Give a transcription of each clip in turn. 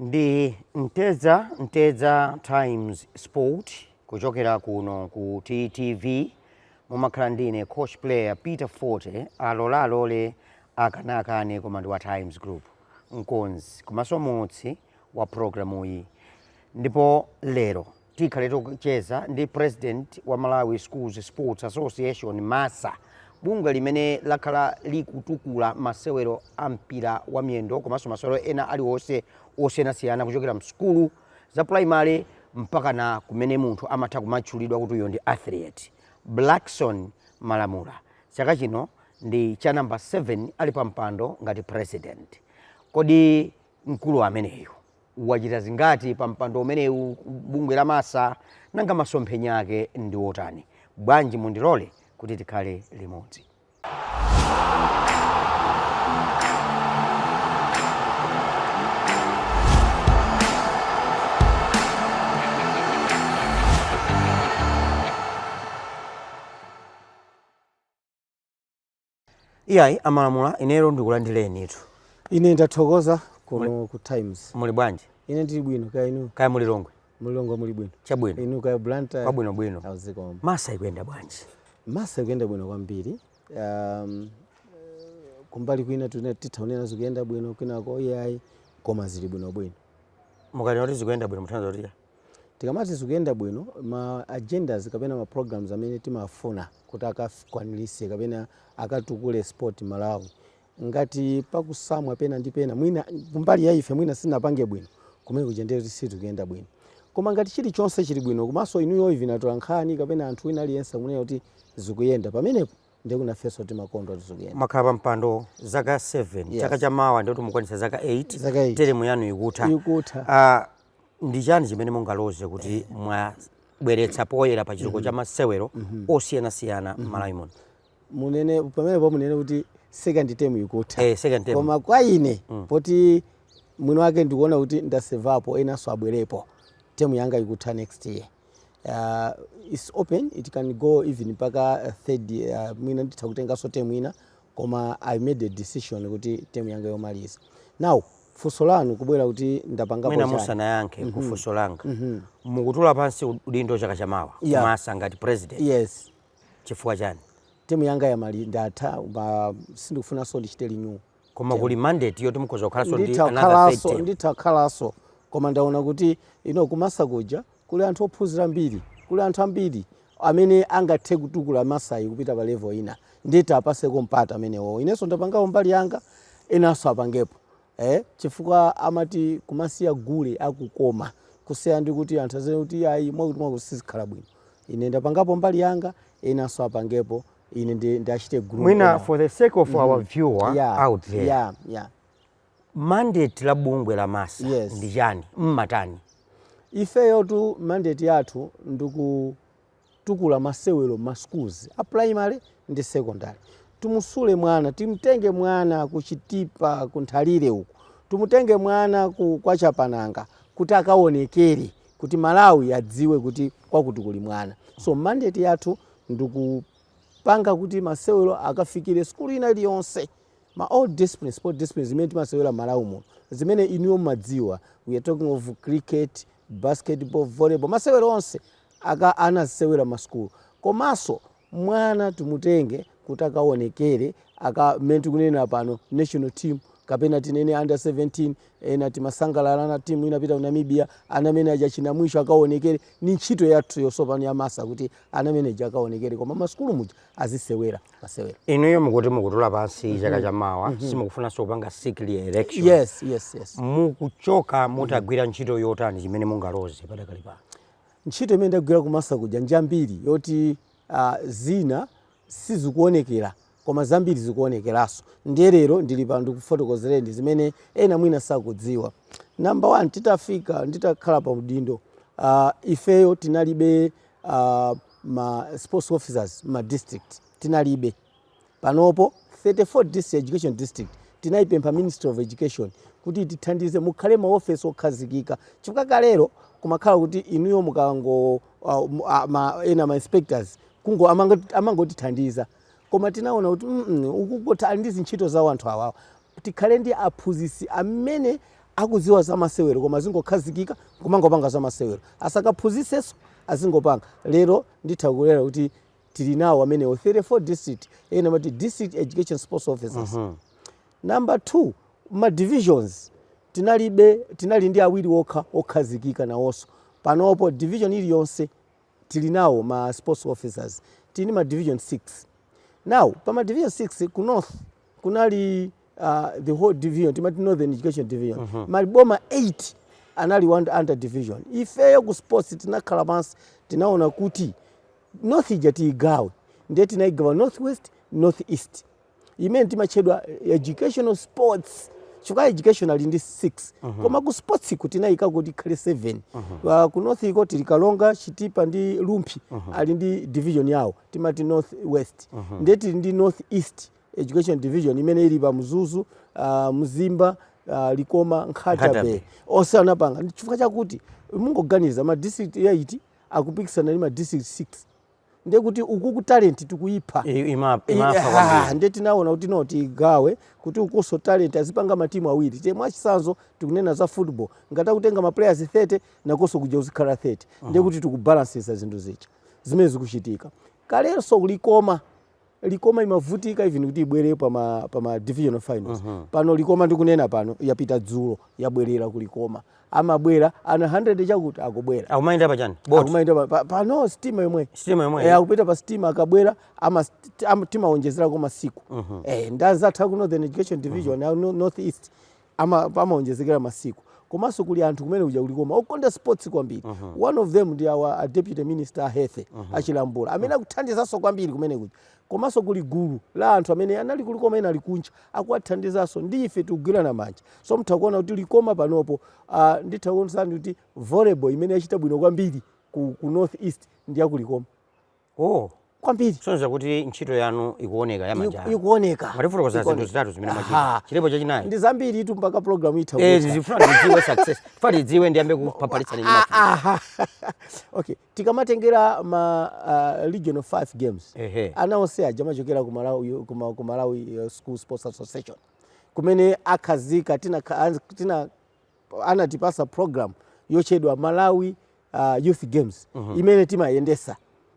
Ndi Mtedza Mtedza Times Sport kuchokera kuno ku TTV mumakhala ndi ine coach player Peter Forte alola alole akana akane koma ndi wa Times Group. mkonzi komanso muulutsi wa programuyi ndipo lero tikhale tikucheza ndi president wa Malawi Schools Sports Association, MASA, bungwe limene lakhala likutukula masewero a mpira wa miyendo komanso masewero ena aliwonse osiyanasiyana kuchokera msukulu za primary mpakana kumene munthu amatha kumatchulidwa kuti uyo ndi athlete. Blackson Malamula Chaka chino ndi cha number 7 ali pa mpando ngati president. Kodi mkulu ameneyu wachita zingati pa mpando umenewu bungwe la MASA? Nanga masomphenya ake ndi otani? Bwanji mundilole kuti tikhale limodzi. iyayi a Malamula ine lero ndikulandirenitu ine ndathokoza kuno ku Times muli bwanji ine ndili bwino kaya inu kaya mu Lilongwe mu Lilongwe muli bwino chabwino inu kaya Blantyre kwabwinobwino a zikomo MASA ikuyenda bwanji MASA ikuyenda bwino kwambiri um, kumbali kwina tune- titha kunena zikuyenda bwino kwinako iyayi koma zili bwinobwino mukati kuti zikuyenda bwino mutanthauza kuti Tikamati zikuyenda bwino, ma agendas kapena ma programs amene timafuna kuti akakwaniritse kapena akatukule sport Malawi, ngati pakusowa pena ndi pena mwina kumbali ya ife mwina sitinapange bwino, kumene kuja ndiye kuti sizikuyenda bwino. Koma ngati chilichonse chili bwino komanso inuyo even atolankhani kapena munthu wina aliyense akunena kuti zikuyenda, pamenepo ndiye kuti nafenso timakondwa kuti zikuyenda. Mwakhala pa mpando zaka 7, chaka Yes. cha mawa ndiye kuti mukwanitsa zaka 8, Zaka eight. teremu yanu ikutha. Ikutha. Ah, Ndi chani chimene mungaloze kuti mwabweretsa poyera pa chitukuko cha masewero osiyanasiyana m'Malawi muno? munene pamenepo munene kuti second term ikutha Eh, second term. koma kwa ine poti mwini wake ndikuona kuti ndasevapo enanso abwerepo term yanga ikutha next year uh, it's open it can go even mpaka uh, third uh, mwina nditha kutenganso term ina koma i made a decision kuti term yanga yomaliza now funso lanu kubwera kuti ndapangapo mwina chani musanayankhe mm -hmm. kufunso langa mm -hmm. mukutula pansi udindo chaka chamawa yeah. masa ngati president yes chifukwa chani term yanga yomali ndatha ba sindikufunanso ndichite renew koma kuli mandate yoti mukhoza kukhalanso ndi another nditha kukhalaso koma ndaona kuti no kumasa kuja Kuli anthu ophunzira ambiri, kuli anthu ambiri amene angathe kutukula Masayi kupita pa level ina ndiye tiapaseko mpata amenewowo. Inenso ndapangapo mbali yanga enanso apangepo eh chifukwa amati kumasiya gule akukoma kusiyana ndi kuti anthu azinena kuti ayi mwakuti mwakuti sizikhala bwino. Ine ndapangapo mbali yanga enanso apangepo ine ndi ndiachite groom Mwina enawo. for the sake of our Mhm. viewer Yeah, out there. yeah, yeah. Mandate la bungwe la masa Yes. ndi chani mumatani ifeyotu mandate yathu ndikutukula masewero ma schools a primary ndi secondary timusule mwana timtenge mwana ku chitipa ku nthalire uku timutenge mwana ku kwa chapananga kuti akaonekere kuti malawi adziwe kuti kwakuti kuli mwana so mandate yathu ndikupanga kuti masewero akafikire skulu ina iliyonse ma all discipline sport discipline zimene timasewera mmalawi muno zimene inuyo mmadziwa we are talking of cricket, basketball, volleyball masewero onse aka ana azisewera ma school komaso mwana timutenge kuti akawonekere mmene tikunenera pano national team kapena tinene under 17 ena timasangalala nayo team inapita ku namibia ana amene aja achina Mwisho akawonekere ni ntchito yathu yosopano ya masa kuti ana amene aja akawonekere koma ma school muja azisewera masewero inuyo mukuti mukutula pansi mm -hmm. chaka cha mawa mm -hmm. simukufunanso kupanga seek re-election yes, yes, yes. mukuchoka mutagwira mm -hmm. ntchito yotani chimene mungaloze padakali pano ntchito imene ndagwira kumasa kuja njambiri yoti uh, zina sizikuonekera koma zambiri zikuonekeranso ndiye lero ndili pano ndikufotokozereni zimene ena mwina sakudziwa number one titafika nditakhala pa udindo uh, ifeyo tinalibe uh, ma sports officers ma district tinalibe panopo 34 district education district tinaipempha ministry of education kuti itithandize mukhale maofesi okhazikika chifukwa kalero kumakhala kuti inuyo mukango uh, mu- a- ma- ena ma inspectors kungo amango- amangotithandiza koma tinaona kuti mm, mm, akukhotha ali ndi zintchito zawo anthu awawa tikhale ndi aphunzitsi amene akudziwa za masewero koma azingokhazikika kumangopanga za masewero asakaphunzitsenso azingopanga lero nditha kunena kuti tili nawo amenewo 34 district ena amati district education sports officers mm -hmm. number two ma divisions tinalibe tinali ndi awiri okha okhazikika nawonso panopo division iliyonse tili nawo ma sports officers tinali ndi ma division 6 now pa ma division 6 ku north kunali uh, the whole division timati northern education division mm -hmm. maboma 8 anali under division ifeyo ku sports tinakhala pansi tinaona kuti north ija tiyigawe ndiye tinayigawa north west north east imene imatchedwa educational sports chifukwa education ali ndi 6 koma ku sports iko tinayika kuti tikhale 7 Pa- ku north iko tili karonga chitipa ndi rumphi ali ndi division yawo timati north west ndiye tili ndi north east education division imene ili pa mzuzu uh, mzimba uh, likoma Nkhata Bay onse anapanga Ndi chifukwa chakuti mungoganiza ma district 8 akupikisana ndi ma district 6 ndiye kuti ukuku talent tikuyipha I- ima- I- imapha ha, kwambiri. ndiye tinaona kuti no tigawe kuti ukunso talent azipanga matimu awiri tiye mwachitsanzo tikunena za football ngati akutenga maplayers 30 nakonso kuja kuzikhala 30 ndiye kuti tikubalansitsa zinthu zija zimene zikuchitika kalenso likoma likoma imavutika even kuti ibwere pa ma pa ma divisional finals uh -huh. pano likoma ndikunena pano yapita dzulo yabwerera ku likoma amabwera ana 100 chakuti akubwera akumayenda pa chani boat akumayenda pa, pa, pa pa sitima yomwe sitima yomwe eh akupita pa sitima akabwera ama timaonjezera ko masiku uh -huh. eh ndanenatu ku northern education division uh -huh. north east ama pamaonjezekera masiku komanso kuli anthu kumene kuja ku likoma okonda sports kwambiri uh mhm. -huh. one of them ndi our deputy minister a health uh mhm. -huh. achilambula amene mhm. akuthandizanso kwambiri kumene kuja komanso kuli gulu la anthu amene anali ku likoma ena ali kunja akuwathandizanso ndi ife tikugwirana manja so mutha kuona kuti likoma panopo uh, nditha kuonetsani kuti volleyball imene yachita bwino kwambiri ku, ku north east ndi yakulikoma Oh, kwambiri. Kusonyeza kuti ntchito yanu ikuoneka ya manja. Iku, ikuoneka. Mwatifotokoza zinthu zitatu zimene mwachita. Chilipo chachinayi. Ndi zambiri tu mpaka program itha. Eh, tifuna tidziwe success. Funa tidziwe ndiyambe kupapatiza ni mafu. Aha. Okay. Tikamatengera ma uh, regional 5 games. Ehe. Ana onse aja amachokera ku Malawi ku, ku Malawi uh, School Sports Association. Komanso akhazika tina tina anatipasa program yotchedwa malawi uh, youth games mm -hmm. imene timayendetsa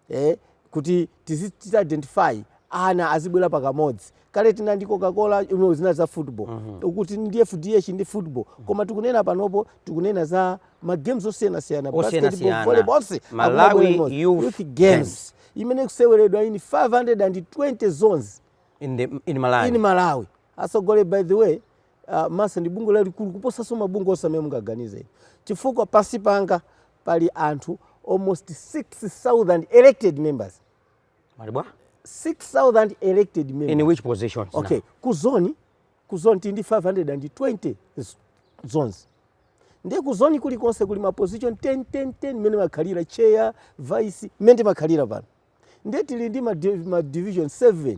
eh, kuti tizichita identify ana azibwera pakamodzi kale tinali ndi coca-cola imene zinali za football mm -hmm. uku tili ndi fdh ndi football mm -hmm. koma tikunena panopo tikunena za magames osiyanasiyana basketball volleyball onse malawi youth, youth games, games imene ikuseweredwa in 520 zones in, the, in malawi, in malawi. atsogoleri by the way MASSA ndi bungwe lalikulu kuposanso mabungwe onse amene mungaganizire inu chifukwa pansi panga pali anthu almost 6000 elected members Mwati bwa? 6000 elected In members which positions? okay now? ku zone ku zone tili ndi 520 z- zones ndiye ku zone kulikonse kuli ma position 10 10 10 mmene makhalira chair vice mmene timakhalira apa no ndiye tili ndi ma, div- ma division 7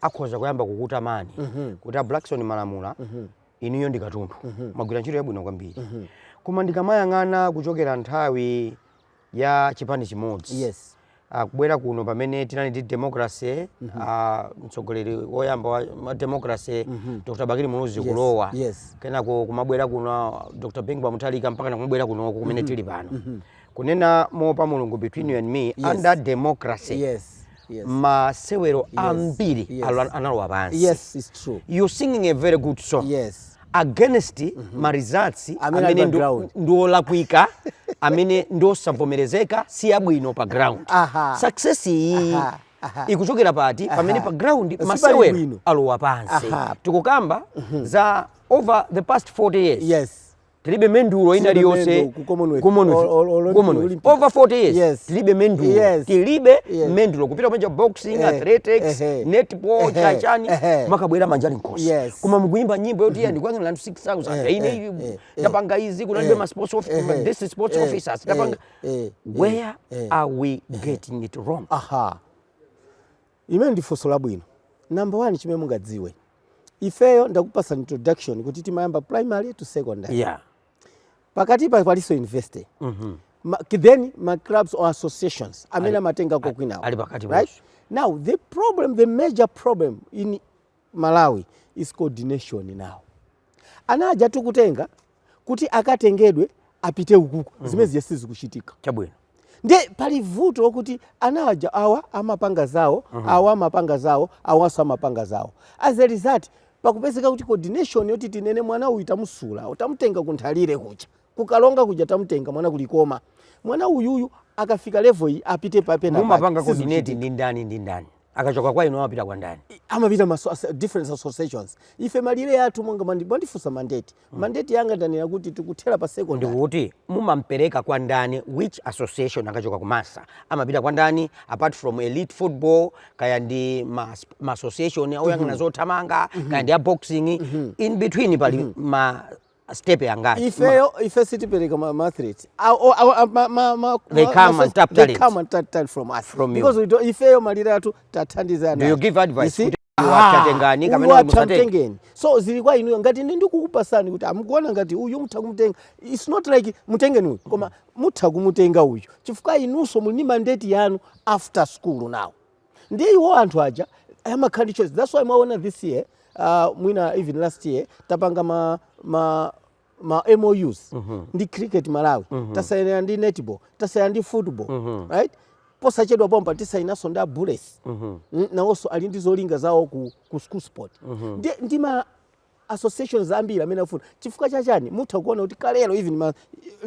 akhoza kuyamba kukutamani mhm. kuti a Blackson Malamula mhm. inuyo ndi katundu mhm. mwagwira ntchito yabwino kwambiri koma ndikamayang'ana kuchokera nthawi ya chipani chimodzi yes. Ah, kubwera kuno pamene tinali ndi democracy mm -hmm. uh, mtsogoleri woyamba wa democracy mm -hmm. Dr. Bakili Muluzi yes. kulowa yes. kenako kumabwera kuno Dr. Bingu Mutharika mpaka nakumabwera kuno kumene mm -hmm. tili pano mm -hmm. kunena moopa mulungu between you and me Yes. under democracy yes yes masewero ambiri yes. alo- analowa pansi yes it's true you're singing a very good song yes against ma results Amene ali amene pa ndi- ground. ndi olakwika amene ndi osavomerezeka si abwino pa ground Aha. success iyi Aha, aha. ikuchokera pati pamene pa ground Sipali masewero bwino. alowa pansi Aha. tikukamba za over the past 40 years yes tilibe mendulo ina liyonse over 40 years yes. tilibe mendulo yes. tilibe yes. mendulo kupita panja boxing eh. athletics eh. netball eh. chachani eh. makabwera manja ali nkhosi yes. koma mukuyimba nyimbo yoti mm -hmm. ndikuangana anthu 6000 eh. ine eh. eh. tapanga izi kunalibe eh. ma sports of eh. this is sports eh. officers tapanga eh. where eh. are we getting it wrong aha Limene ndi funso labwino. Number one chimene mungadziwe ifeyo ndakupasani introduction kuti timayamba primary to secondary yeah. pakatipa palinso university mm -hmm. Ma, then ma clubs or associations amene amatenga kokwinawo right? now the problem the major problem in Malawi is coordination now ana aja tikutenga kuti akatengedwe apite ukuku mm -hmm. zimene zija sizikuchitika chabwino nde pali vuto lokuti ana aja awa amapanga zawo mm -hmm. awa amapanga zawo awanso amapanga zawo as a result pakupezeka kuti coordination yoti tinene mwana uyu tamusula tamutenga ku Nthalire kucha ku Karonga kuja tamutenga mwana ku Likoma mwana uyuyu akafika level iyi apite papa pena mumapanga coordinate ndi ndani ndi ndani akachoka kwa inu amapita kwa ndani amapita ma so- as- different associations ife malire athu monga mandi- mwandifunsa mandate mandate yanga ndanena kuti tikuthera pa secondary ndikuti mumampereka kwa ndani which association akachoka ku MASSA amapita kwa ndani apart from elite football kaya ndi ma, ma association oyang'ana zothamanga kaya ndi a boxing in between pali ma stepe angati ifeyo ife sitipereka ma ma athletes Ah, oh, ah, ah, ma ma ma They ma- come ma- and tap they talent. come and tap talent from us From you. because we don't ifeyo malire athu tathandiza do you give advice kuti awa atengeni kapena kuti musatenge awa atengeni so zili kwa inuyo ngati ine ndikukupasani kuti amukuona ngati uyu mutha kumutenga it's not like mutengeni uyu koma mutha kumutenga uyu chifukwa inunso muli ndi mandate yanu after school now ndiye iwo anthu aja amakhala ndi choice that's why mwaona this year uh, mwina even last year tapanga ma, ma ma MOUs mm -hmm. ndi cricket Malawi mm -hmm. tasaina ndi netball tasaina ndi football mm -hmm. right posachedwa pompa tisainanso ndi a Bullets mm -hmm. nawonso ali ndi zolinga zawo ku, ku school sport mm -hmm. ndi, ndi ma associations ambiri amene afuna chifukwa cha chani mutha kuona kuti kalero even ma,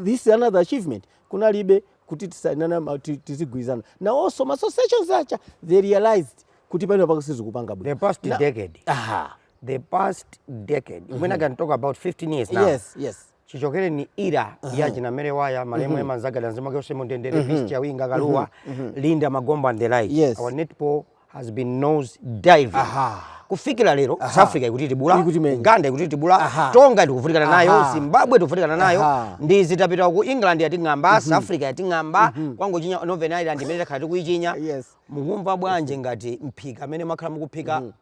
this is another achievement kunalibe kuti tisainana ma- ti- tizigwirizana nawonso ma associations aja they realized kuti penapake sizikupanga bwino the past Na- decade aha the past decade when i can talk about 15 years now yes yes chichokereni era ya mhm. china Mary Waya malemu mhm. Emma Mzagada mzimu wake uwuse mu mtendere mhm. Peace Chawinga Kaluwa Linda Magombo and the like yes. our netball has been nose diving Aha. kufikira lero Aha. South Africa ikutitibula Uganda ikutitibula Aha. Tonga tikuvutikana nayo Zimbabwe tikuvutikana nayo ndi izi tapita ku England yating'amba mm -hmm. South Africa yating'amba mm -hmm. kungochinya Northern Ireland imene takhala tikuichinya yes. mukumva bwanje ngati mphika amene mwakhala mukuphika mm -hmm.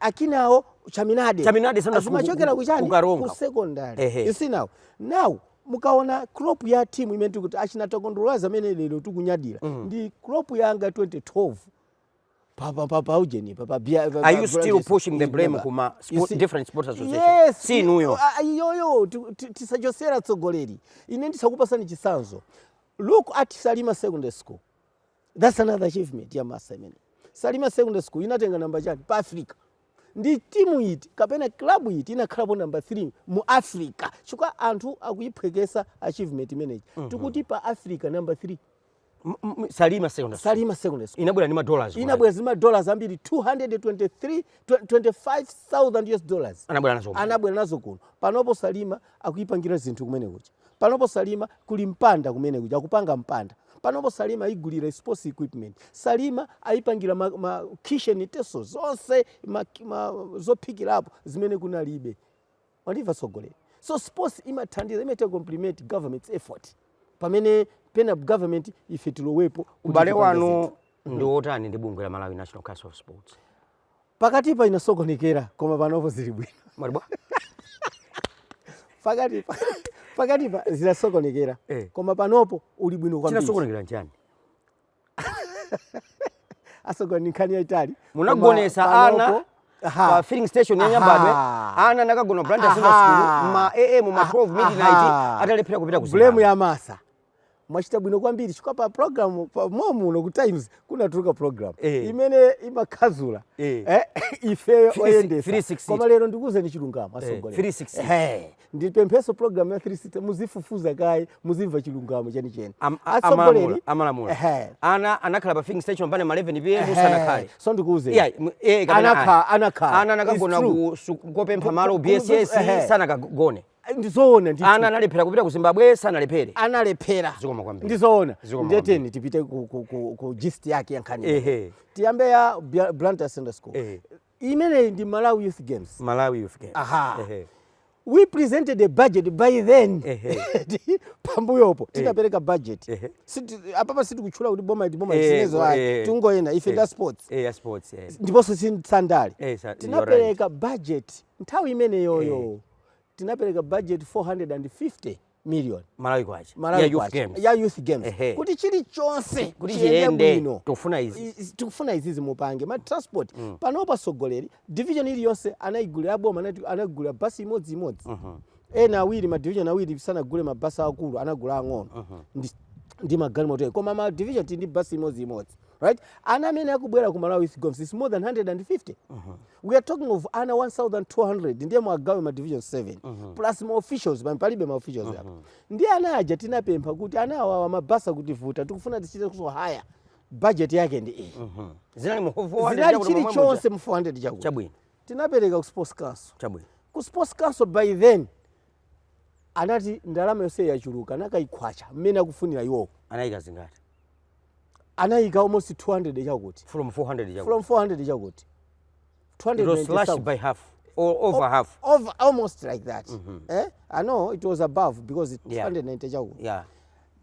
akinawo chaminade chaminade sana zimachokera ku chani ku Karonga ku secondary Ehe. you see now now mukaona crop ya team imene tikuti achina Takondwa Lwazi amene lero tikunyadira mm. ndi crop yanga 2012 papa papa ujeni papa bia are you still pushing the blame kuma sport, different sports association yes si inuyo iyoyo tisachosera tsogoleri ine ndizakupasani chisanzo look at salima secondary school That's another achievement ya MASSA imene. Salima Secondary School inatenga namba chani pa Africa. Ndi timu iti kapena club iti inakhalapo namba 3 mu Africa. Chukwa anthu akuyiphwekesa achievement imeneyi. Mm -hmm. Tikuti pa Africa namba 3. Salima Secondary School. Salima Secondary School. Inabwera ndi ma dollars. Inabwera ndi ma dollars ambiri 223 25000 US dollars. Anabwera nazo. Anabwera nazo kuno. Panopo Salima akuipangira zinthu kumene kuja panopo salima kuli mpanda kumene kuja akupanga mpanda panopo salima ayigulira sports equipment salima ayipangira ma, ma kitchen utensils zonse ma, ma, zophikirapo zimene kunalibe mwandimva tsogoleri so sports imathandiza imachita complement government's effort pamene pena government ife tilowepo kuti ubale tipange wanu zinthu. ndi wotani ndi bungwe la malawi national council of sports pakatipa inasokonekera koma panopo zili bwino Mwati bwa? pakatipa pakatipa zinasokonekera Eh. koma panopo uli bwino kwambiri chinasokonekera nchani asogoleri nkhani yaitali munagonesa Koma ana panopo- Aha. pa filling station ya Aha. nyambadwe ana anakagona Blantyre Aha. secondary school ma am ma 12 midnight Aha. atalephera kupita ku blame Zimbabwe. ya MASSA mwachita bwino kwambiri chifukwa pa program pa momuno ku times kunatuluka program Eh. imene imakhazula Eh. eh, ifeyo 360. oyendesa koma lero ndikuwuzeni chilungamo asogoleri 360. Ehe. ndipempheso program ya 360 muzifufuza kaye muzimva chilungamo chenicheni asogoleri Am- a- amalamula amalamula Ehe. ana anakhala pa filling station pane ma 11 pm Ehe. sanakhale so ndikuwuzeni Yeah, m- eh, kapena Anakha- ayi. anakhala. ana It's anakagona true. ku- su- kopempha malo Ku- ku- bss ehe. sanakagone Ai, ndi zoona ndithu. ana analephera kupita ku zimbabwe sanalephere analephera Zikomo kwambiri. ndi zoona Zikomo ndiye tiyeni tipite ku, ku, ku, ku gist yake ya nkhani Ehe. tiyambe ya Bia- blantyre secondary school Ehe. imeneyi ndi malawi youth games malawi youth games Aha. Ehe. we presented a budget by then Ehe. pambuyopo tinapereka budget Ehe. Siti- apapa sitikutchula kuti boma iti boma Eh, isinezo eh, ayi tingoyenda ife eh. ndi a sports Eh, ya sports eh. ndiponso si za ndale Eh, sa- tinapereka budget nthawi imeneyoyo tinapereka budget 450 million malawi kwacha malawi ya youth kwacha, games ya youth games Ehe. kuti chilichonse kuti chiyende chiyende bwino tofuna izi I- i- tikufuna izizi mupange ma transport panopa asogoleri division iliyonse anayigulira boma anati- anayigulira basi imodzi imodzi ena awiri ma division awiri sanagule mabasi akulu anagula ang'ono ndi, ndi magalimoto ake. koma ma division tili ndi basi imodzi imodzi right ana amene akubwera ku malawi youth games is more than 150 mm -hmm. we are talking of ana 1200 ndiye muwagawe ma division 7 mm -hmm. plus ma officials pamene palibe ma officials mm -hmm. apa ndiye ana aja tinapempha kuti ana awawa mabasi akutivuta tikufuna tichite kuso haya budget yake ndi iyi mm -hmm. zinali mu 400 zinali chili chonse mu 400 chakuti chabwino tinapereka ku sports council chabwino ku sports council by then anati ndalama yonse yachuluka anakayikhwacha mmene akufunira iwowo anayika zingati anayika almost 200 chakuti from 400 chakuti from 400 chakuti 200 it was slashed by half or over o half over almost like that mm -hmm. eh i know it was above because it yeah. 290 chakuti yeah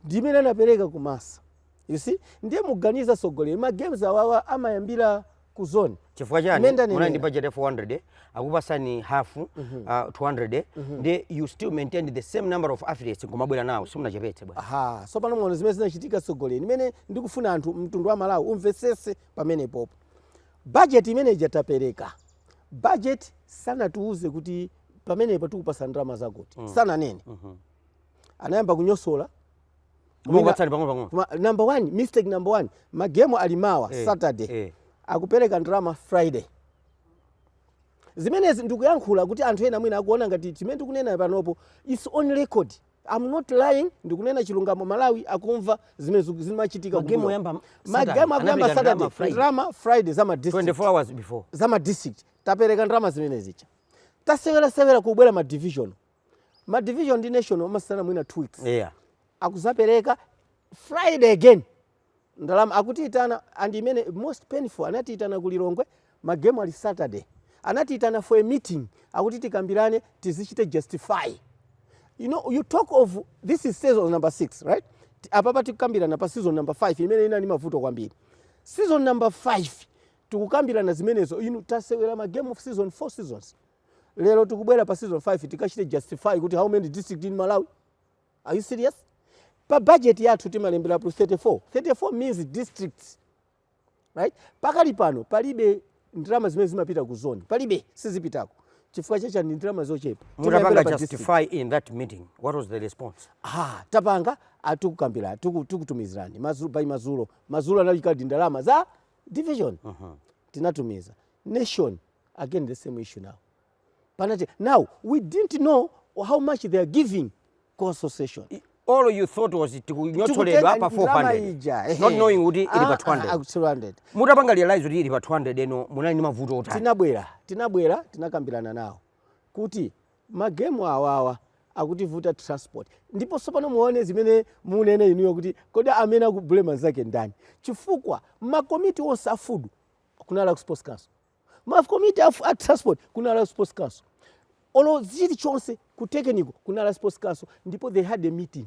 ndimene anapereka ku massa you see ndiye muganiza sogoleri ma games awawa amayambira ku zone chifukwa chani Menda ni munali ndi menda. budget ya 400 eh, akupasani half uh, 200 eh, ndi you still maintain the same number of athletes nkumabwera nawo simunachepetse bwana aha so pano mwaona zimene zinachitika tsogoleri imene ndikufuna anthu mtundu wa malawi umvetsese pamenepopo bajeti imene ija tapereka bajeti sanatiuze kuti pamenepo tikupasa ndalama zakuti sananene anayamba kunyosola Mwina- Ukatsani pang'ono pang'ono. Koma number one, mistake number one, magemu ali mawa Eh, Saturday eh. akupereka ndalama Friday. Zimenezi ndikuyankhula kuti anthu ena mwina akuona ngati chimene tikunena panopo it's on record. I'm not lying, ndikunena chilungamo Malawi akumva zimene ziku- zimachitika. Magemu kumbuyo. oyamba Saturday, magemu akuyamba anapereka Saturday, ndalama Friday. ndalama Friday za ma district. 24 hours before. za ma district tapereka ndalama zimene zija tasewerasewera kubwera ma division ma division ndi national amasiyana, mwina 2 weeks yeah. akuzapereka friday again ndalama akutiitana and imene most painful anatiitana ku lilongwe magemu ali saturday anatiitana for a meeting akuti tikambirane tizichite justify you know you talk of this is season number 6 right Ti- apapa tikukambirana pa season number 5 imene inali ndi mavuto kwambiri season number 5 tikukambirana zimenezo inu tasewera ma game of season 4 seasons lero tikubwera pa season 5 tikachite justify kuti how many district in malawi are you serious pa budget yathu timalemberapo 34 34 means districts right pakali pano palibe ndalama zimene zimapita ku zone palibe sizipitako chifukwa chake ndi ndalama zochepa mutapanga justify in that meeting what was the response ah tapanga atiuza tukutumizirani madzulo by madzulo madzulo analikadi ndalama za division uh -huh. tinatumiza nation again the same issue now panati now we didn't know how much they are giving ku association all you thought was tikunyotsoledwa pa 400 not knowing kuti ili pa 200 ah, ah, mutapanga realize kuti ili pa 200 eno munali ndi mavuto otani tinabwera tinabwera tinakambirana nawo kuti magemu awawa akutivuta transport ndipo sopano muone zimene munene inuyo kuti kodi amene akublema anzake ndani chifukwa makomiti onse a food kunali ku sports council ma committee a, a transport kunali ku sports council olo chilichonse ku technical kunali sports council ndipo they had a meeting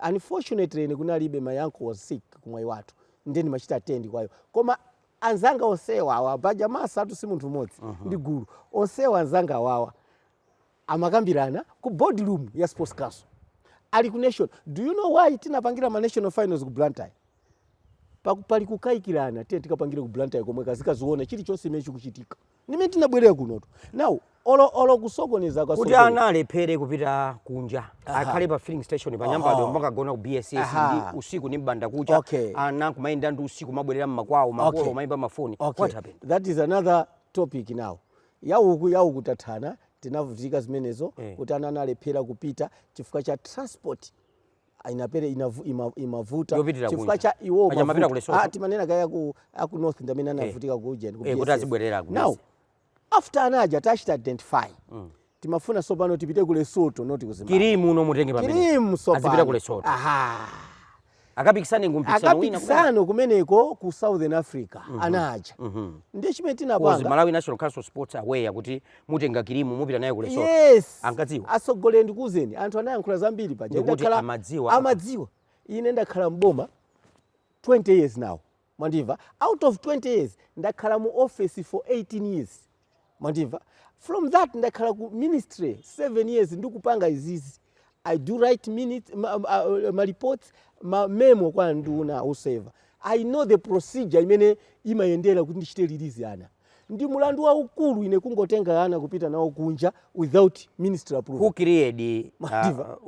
unfortunately ine kunalibe my uncle was sick kumayi kwathu ndiye ndimachita attend kwa iwo koma anzanga onsewa awa paja MASSA tu si munthu mmodzi uh -huh. ndi gulu onsewa anzanga awawa amakambirana ku board room ya sports council ali ku nation do you know why tinapangira ma national finals ku blantyre Paku- pali kukayikirana tiye tikapangire ku blantyre komwe kazikaziona chilichonse chimene chikuchitika ndimene tinabwerera kunoto now olo olo kusokoneza kwa kuti Sogolo- ana alephere kupita kunja akhale pa filling station pa nyambadwe Aha. kumakagona ku bss Aha. ndi usiku ndi mbanda kucha Okay. ana kumayenda ndi usiku kumabwerera mmakwawo makolo Okay. kumayimba mafoni okay what happened that is another topic now ya uku ya uku tathana tinavutika zimenezo eh. kuti ana analephera kupita chifukwa cha transport ah, inapere inavu, ima, imavuta chifukwa cha iwo ah, timanena kaya aku north ndamene eh. anavutika eh. ku ujeni ku eh, kuti azibwerera ku now after anaja tachita identify mm. timafuna sopano tipite ku Lesotho not ku Zimbabwe kirimu uno mutenge pamene kirimu sopano azipita ku Lesotho aha akapikisane ku mpikisano wina kumene. akapikisane kumeneko ku southern africa ana aja ndiye chimene Kozi tinapanga Malawi National Council of Sports aware kuti mutenga kirimu mupita nayo ku Lesotho. yes Ankadziwa. achitsogolere ndikuuzeni anthu anayankhula zambiri paja Ndikuti Ndakhala- amadziwa. amadziwa ine ndakhala mboma 20 years now mwandimva out of 20 years ndakhala mu office for 18 years mwandimva from that ndakhala ku ministry 7 years ndikupanga izizi i do write minutes ma, ma, uh, ma reports ma memo kwa nduna so even i know the procedure imene imayendera kuti ndichite release ana ndi mulandu waukulu ine kungotenga ana kupita nawo kunja without ministry approval who created uh,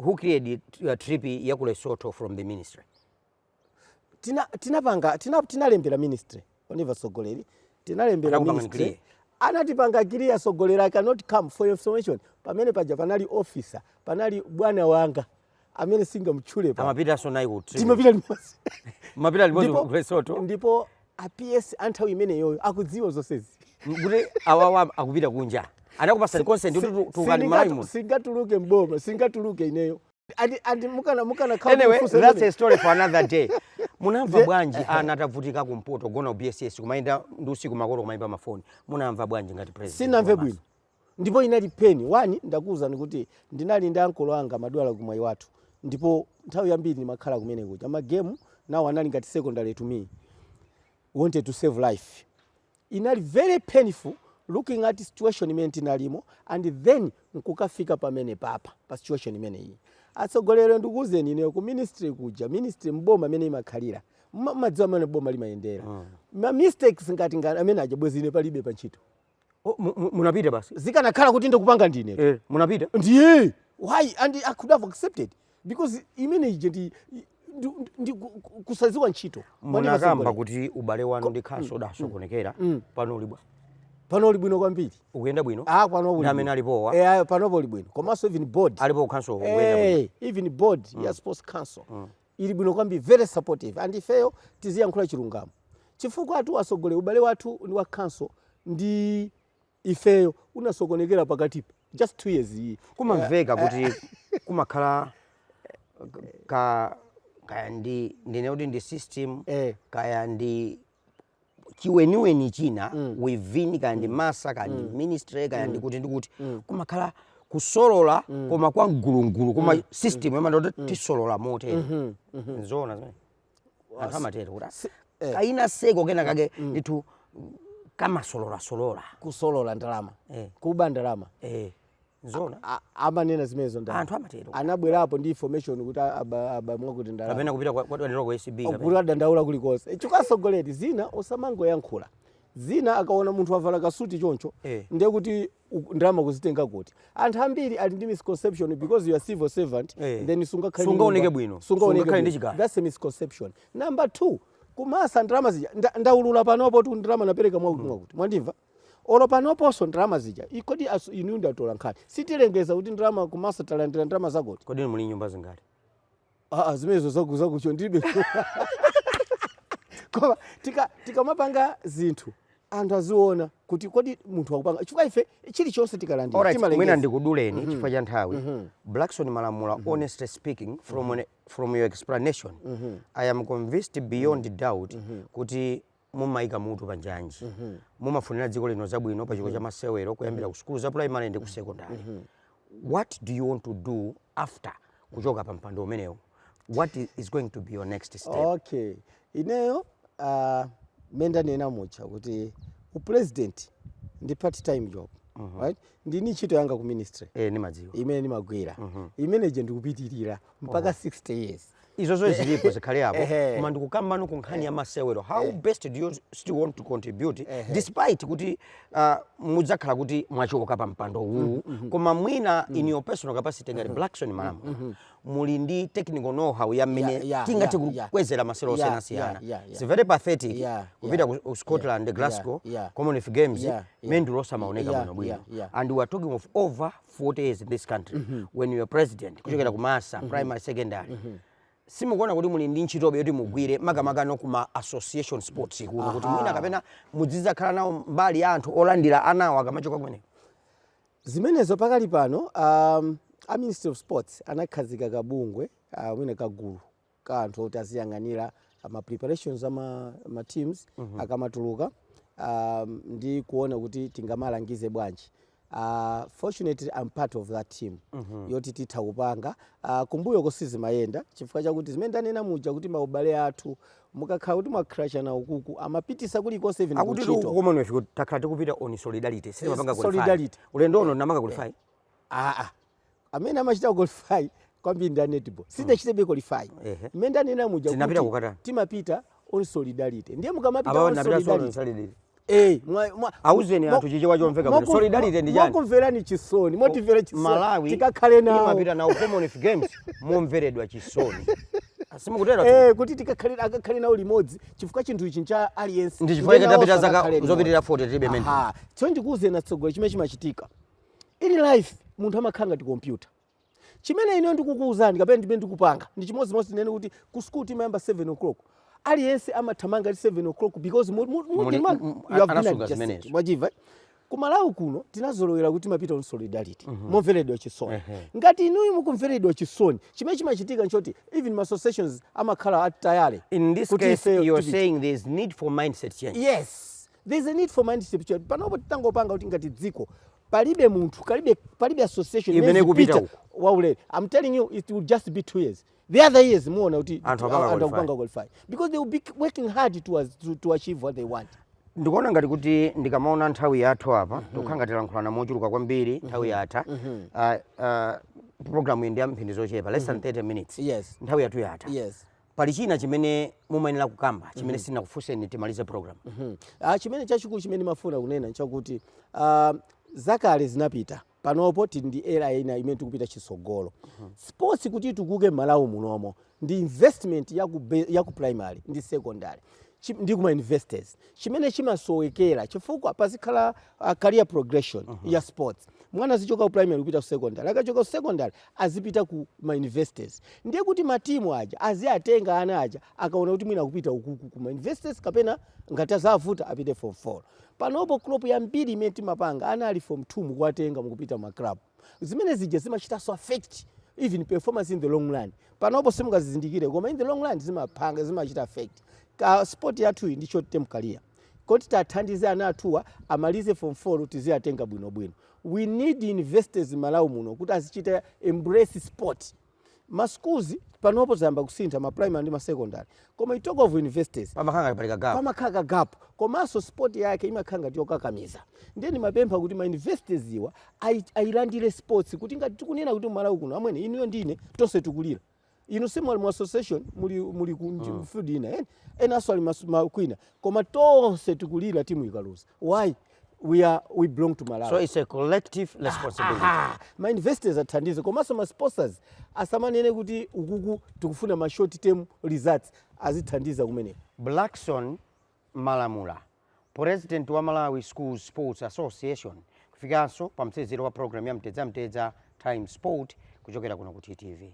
who created uh, trip ya ku Lesotho from the ministry tina tinapanga tina, tinalembera ministry mwandimva tsogoleri tinalembera ministry anatipanga clear tsogoleri i cannot come for your information pamene paja panali officer panali bwana wanga amene singamtchule pa amapitanso nayo ku trip timapita limodzi mapita limodzi ku Lesotho ndipo a PS anthawi imeneyoyo akudziwa zonsezi kuti awawa akupita kunja anakupatsani consent kuti tulukani Malawi muno singatuluke mboma singatuluke ineyo Andi- andi mukana- mukana khala anyway kufunsa that's a imene. story for another day munamva bwanji ana atavutika kumpoto kugona BSS kumayenda ndi usiku makolo kumayimba mafoni munamva bwanji ngati president sinamve Ramaphosa? bwino ndipo inali painful one ndakuwuzani kuti ndinali ndi ankolo anga amadwala ku Mwaiwathu ndipo nthawi yambiri ndimakhala kumene kuja magemu nawo anali ngati secondary to me wanted to save life inali very painful looking at situation imene tinalimo and then nkukafika pamenepapa pa situation imene iyi atsogoleri ndikuuzeni ineyo ku ministry kuja ministry mboma imene imakhalira mma- madziwa mmene boma limayendera ma mistakes ngati ngati amene aja bwezi ine palibe pa ntchito Oh, mu- mu- munapita basi zikanakhala kuti ndikupanga ndine eh, munapita ndiye why and i could have accepted because imene ija ndi ndi- ndi- ndi ku- ku- kusadziwa ntchito Mwanena munakamba zambiri. kuti ubale wanu ndi council udasokonekera Mm. pano uli bwanji pano uli bwino kwambiri ukuyenda bwino ah pano uli Ndi amene bwino. alipowa? eh ayo pano uli bwino komanso even board alipo council ukuyenda bwino Eh, even board ya sports council ili bwino kwambiri very supportive and ifeyo tiziyankhula chilungamo chifukwa atu asogole ubale wathu ndi wa council ndi ifeyo unasokonekera pakatipa just two years iyi kumamveka kuti kumakhala ka kaya ndi ndine kuti ndi system Eh. kaya ndi chiweniweni china mm. within kaya ndi MASSA kaya ndi mm. ministry kaya mm. ndi kuti ndi kuti mm. kumakhala kusolola mm. koma kwa mgulungulu koma mm. system mm. imati tisolola motere mm -hmm. mm -hmm. nzoona zimene anthu amatero kuti Si- eh. kaya kuseriko kena kake ndithu kamasololasolola kusolola ndalama Eh. kuba ndalama Eh, nzona A- amanena zimenezo ndalama. anthu amatero anabwerapo ndi information kuti aba- aba mwakuti ndalama kapena kupita kwa- kwadwaniro ku acb kapena. kuti adandaula kulikonse chifukwa tsogoleri zina osamangoyankhula zina akaona munthu wavala kasuti choncho Eh. ndiye kuti uku- ndalama kuzitenga kuti anthu ambiri ali ndi misconception because you are civil servant Eh. then sungakhale ndi Sungaoneke nyumba, bwino. sungaoneke Sungakhale ndi bwino. chikaya. that's a misconception number two ku massa ndalama zija nda- ndaulula panopotu ndalama napereka mwakuti mwakuti mwandimva olo panoponso ndalama zija I- kodi asu- inu ndi atolankhani sitilengeza kuti ndalama ku massa talandira ndalama zakuti kodi muli nyumba zingati Ah, ah, zimenezo zaku- zakucho ndilibe koma tika- tikamapanga zinthu anthu aziona kuti kodi munthu akupanga chifukwa ife chilichonse tikalandira Alright, mwina timalengeza ndikuduleni chifukwa cha nthawi blackson malamula honestly speaking from, an, from your explanation i am convinced beyond doubt kuti mumaika mutu pa njanji mumafunira dziko lino zabwino pa chikho cha masewero kuyambira ku sukulu za primary ndi ku secondary what do you want to do after kuchoka pa mpando umenewu what i- is going to be your next step okay ineyo uh, mmene ndanena muja kuti upresident ndi part time job right ndili ndi ntchito yanga ku ministry eh, nimadziwa imene ndimagwira imene ija ndikupitirira mpaka 60 years izo zo zilipo zikhale apo Ehe. koma ndikukambano ku nkhani ya masewero how best do you still want to contribute despite kuti uh, mudzakhala kuti mwachoka pa mpando uwu koma mwina in your personal capacity ngati blackson malamu muli ndi technical know how ya mmene Yeah, yeah, tingathe yeah, yeah. kukwezera masewero Yeah, osiyanasiyana yeah, yeah, yeah. it's very pathetic Yeah, kupita yeah, ku scotland yeah, glasgow yeah, yeah. commonwealth games Yeah, yeah. mendulo osamaoneka Yeah, bwinobwino yeah, yeah. and we are talking of over 40 years in this country mm -hmm. when you're president kuchokera mm -hmm. ku massa mm -hmm. primary secondary mm -hmm simukuona kuti muli ndi ntchitobe yoti mugwire makamakanso kuma association sports kuno kuti mwina kapena muzidzakhala nawo mbali ya anthu olandira anawo akamachoka kumeneko zimenezo pakali pano um, a ministry of sports anakhazika kabungwe uh, mwina kagulu ka anthu oti aziyang'anira ah, ma preparations a ma, ma teams akamatuluka um, ndi kuona kuti tingamalangize bwanji Uh, fortunately I'm part of that team yoti titha kupanga uh, kumbuyoku sizimayenda chifukwa chakuti zimene ndanena muja kuti maubale athu mukakhala kuti mwaclashana ukuku amapitisa kulikonse even akuti kuntchito. ku commonwealth kuti takhala tikupita on solidarity sitimapanga Yes, qualify. solidarity. ulendo uno anapanga qualify aa amene amachita qualify kwambiri ndi a netball sidachitebe qualify Ehe. mmene ndanena muja Tinapita kuti kukatani? timapita on solidarity ndiye mukamapita Abawo on ndapita solo solidarity nsalidiri. Eh, mwa- mwa- Auzeni mwa- anthu chichewa chomveka mwa- kuti solidarity ndi chani? mwakumverani chisoni motimvera chisoni Malawi tikakhale nawo imapita nawo Commonwealth Games momveredwa chisoni. Ah si mukuterotu. Eh, kuti tikakhale akakhale nawo limodzi chifukwa chinthu ichi ncha aliyense Ndi chifukwa Ndiye chake nawo tapita zaka akakhale limodzi. zopitirira 40 tilibe mendulo. Aha. so ndikuuzeni atsogoleri chimene chimachitika in life munthu amakhala ngati kompyuta chimene ineyo ndikukuwuzani kapena ndimene ndikupanga ndi chimodzimodzi tinene kuti ku school timayamba 7 o'clock aliyense amathamanga ali 7 o'clock because mu- mu- mu- Muli- demand- m- you have been anasunga adjusted. zimenezo. mwachimva eh? ku malawi kuno tinazolowera kuti timapita on solidarity momveredwa chisoni ngati inuyo mukumveredwa chisoni chimene chimachitika nchoti even ma associations amakhala atayale in this kuti case ifeyo you're tipite. saying there's need for mindset change yes There is a need for mindset change panopo titangopanga kuti ngati dziko palibe munthu palibe association imene ikupita uko. waulere i'm telling you it will just be two years the other years muona kuti anthu akupanga qualify because they will be working hard to, as- to, to achieve what they want ndikuona ngati kuti ndikamaona nthawi yathu apa tikukhala ngati tilankhulana mochuluka kwambiri nthawi yatha Ah, ah, programu iyi ndi ya mphindi zochepa less than 30 minutes yes nthawi yathu yatha yes pali china chimene mumayenera kukamba chimene mm -hmm. sindinakufunseni timalize program mm -hmm. ah, chimene chachikulu chimene ndimafuna kunena nchakuti ah, zakale zinapita panopo tili ndi era ina imene tikupita chitsogolo mm -hmm. sports kuti itukuke m'malawi munomo ndi investment ya ku, ya ku primary ndi secondary ndi kuma universities chimene chimasowekera chifukwa pazikhala uh, career progression uh -huh. ya sports mwana azichoka ku primary kupita ku secondary akachoka ku secondary azipita ku ma universities ndiye kuti ma team aja aziwatenga ana aja akaona kuti mwina akupita ukuku ku ma universities kapena ngati zavuta apite at form 4 panopo crop yambiri imene timapanga ana ali form 2 mukuwatenga mukupita ma club zimene zija zimachitanso affect even performance in the long run panopo simungazizindikire koma in the long run zimapanga zimachita affect ka sport yathuyi ndi short term career kuti tiwathandize ana athuwa amalize form 4 tiziwatenga bwinobwino we need universities m'malawi muno kuti azichita embrace sport ma schools panopo zayamba kusintha ma primary ndi ma secondary koma you talk of universities pamakhala ngati pali kagap pamakhala kagap komanso sport yake imakhala ngati yokakamiza ndiye ndimapempha kuti ma universities-wa ayi- ayilandire sports kuti ngati tikunena kuti m'malawi kuno amwene inuyo ndine tonse tikulira inu simuli mu association muli muli ku ndi- Mm. field ina ena enanso ali mas- ma- kwina koma tonse tikulira timu ikaluza why we are we belong to malawi so it's a collective responsibility Aha, ma universities athandize komanso ma sponsors asamanene kuti ukuku tikufuna ma short term results azithandiza kumeneko blackson Malamula, Purezidenti wa Malawi Schools Sports Association kufikanso pa mtsiriziro wa program ya Mtedza Mtedza Times Sport kuchokera kuno ku TTV.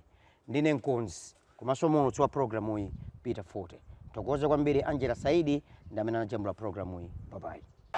Ndine mkonzi komanso muulutsi wa programuyi Peter Fote. Ndithokoze kwambiri Angela Saidi ndi amene anajambula programuyi. Babayi.